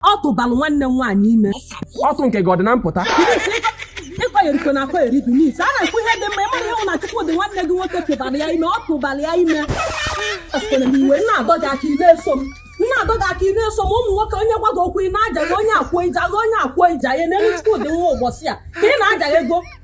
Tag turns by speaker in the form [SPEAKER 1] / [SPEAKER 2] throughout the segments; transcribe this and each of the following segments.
[SPEAKER 1] ọ tụbalụ nwanne m nwaanyị ime ọtụ nke gị ọ dị na mpụta ịkọnyerikwe na akọnyeri dị n'isi a na-ekwu ihe dị mma ị mara ihe nwụ na Chukwudị nwanne gị nwoke tụbara ya ime ọ tụbara ya ime Esitere m iwe na-adọ gị aka ị na-eso m na-adọ gị aka ị na-eso m ụmụ nwoke onye gwa gị okwu ị na-aja gị onye akwụọ ije agha onye akwụọ ije ahịa n'elu Chukwudị nwa ụbọchị a ka ị na-aja ya ego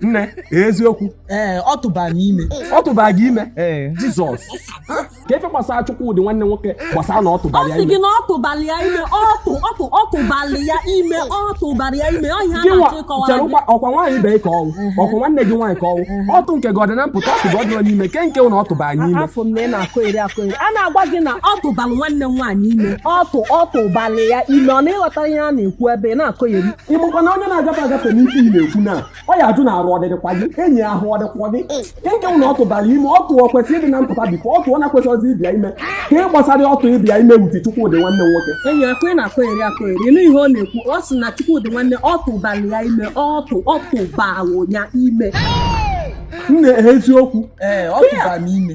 [SPEAKER 1] nne eziokwu ee ọ tụba m ime ọ tụba gị ime jizọs ka efe gbasara Chukwudị nwanne nwoke gbasara na ọ tụbara ya ime ọ sị gị na ọ tụbara ya ime ọtụ ọtụ ọ tụbara ya ime ọ tụbara ya ime ọ ihe a na-achọ ịkọwara gị ọ kwa nwaanyị ibe ka ọ wụ ọ kwa nwanne gị nwaanyị ka ọ wụ ọtụ nke gị ọ dị na mpụta ọtụ gị ọ dị na n'ime ke nke na ọ tụbara anyị ime afụ m na ị na-akọ eri akọ eri a na-agwa gị na ọ tụbara nwanne m nwaanyị ime ọtụ ọ tụbara ya ime ọ na ị ghọtara ihe a na-ekwu ebe ị na-akọ eri ị makwa na onye na-agafe agafe n'isi ị na-ekwu na ọ ya ajụ na-arụ ọ dịdịkwa gị enyi ahụ ọ dịkwa gị nke na ọ tụbara ime ọtụ kwesịrị ịdị na mpụta before ọtụ na kwesịrịzi ịbịa ime ka ị gbasara ọtụ ịbịa ime wuti Chukwudị nwanne nwoke enyi akụ ị na-akọ eri akọ eri ị nụ ihe ọ na-ekwu ọ sị na Chukwudị nwanne ọ tụbara ya ime ọtụ ọ tụbara ya ime nne eziokwu ee ọ tụbara m ime